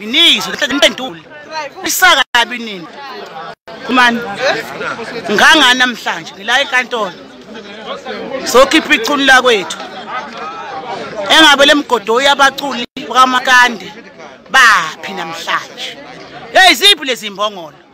Miningi sokuhlala impendule. Isaka kabi nini? Kumani. Nganga namhlanje ngila enkantolo. Sokhipha ichunu la kwethu. Engabe lemgodo uyabaculi bakamakande baphi namhlanje. Hey ziphi lezi mbongolo?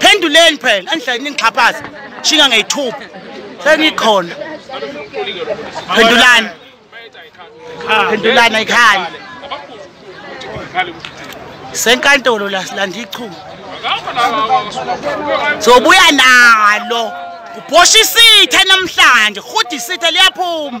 phenduleni phela andihlale ningixhaphaza shinga ngeyithuba sengikhona phendulani phendulani ayikhali senkantolo la silanda ichuma sobuya nalo ubhosha isitha namhlanje rhuda isitha liyaphuma